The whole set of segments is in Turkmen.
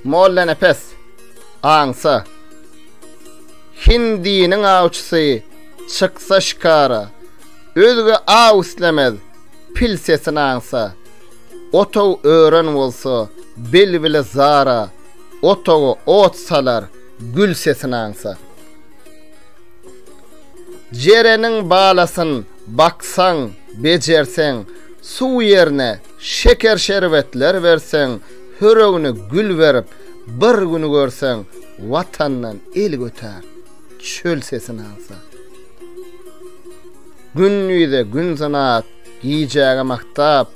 Mollanepes aňsa Hindiniň awçysy çyksa şikara Özge aw islemez pil sesini aňsa Otaw ören bolsa belbile zara Otawa ot salar gül sesini aňsa Jereniň balasyn Baksaň, bejerseň, suw ýerine şeker-şerbetler berseň, höregine gül berip, bir gün görseň, Watandan el götär, çöl sesini alsa. Gündize gün synap, gijäge magtap,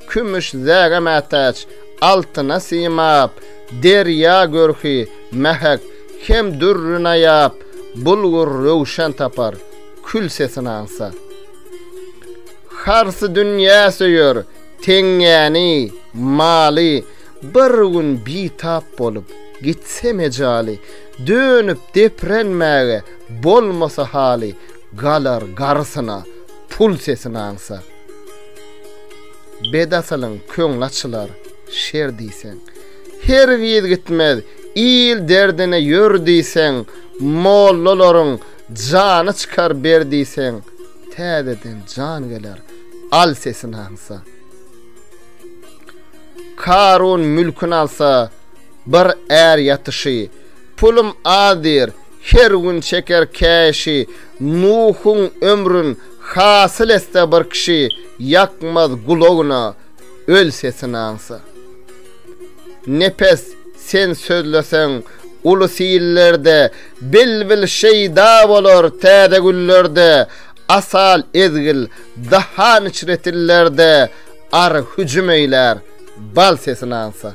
kümüş zäge mätäç, altyna simap, derýa görki mähek hem dürri naýap, bulgur röwşen tapar. kül sesini aňsa. Harsy dünýä söýer, teňňäni, maly, Bir gün bitap bolup, gitse mejaly, Dönüp deprenmäge bolmasa haly, Galar garysyna, pul sesini aňsa. Bedasylyň köňli açylar, şer diýseň, Hergiz gitmez, il derdine ýör diýseň, Mollalaryň, Jany çykar ber diýseň täzeden jan geler al sesini aňsa. Karun mülkün alsa bir är ýatyşy pulum az diýr her gün çeker käşi Nuhuň ömrün hasyl etse bir kişi ýakmaz gulagyna öl sesini aňsa. Nepes sen sözleseň uly sillerde Bilbil şeýda bolar täze güllerde, Asal ezgil, dahan içre tillerde, Ary hüjüm eýlär, bal sesin ansa.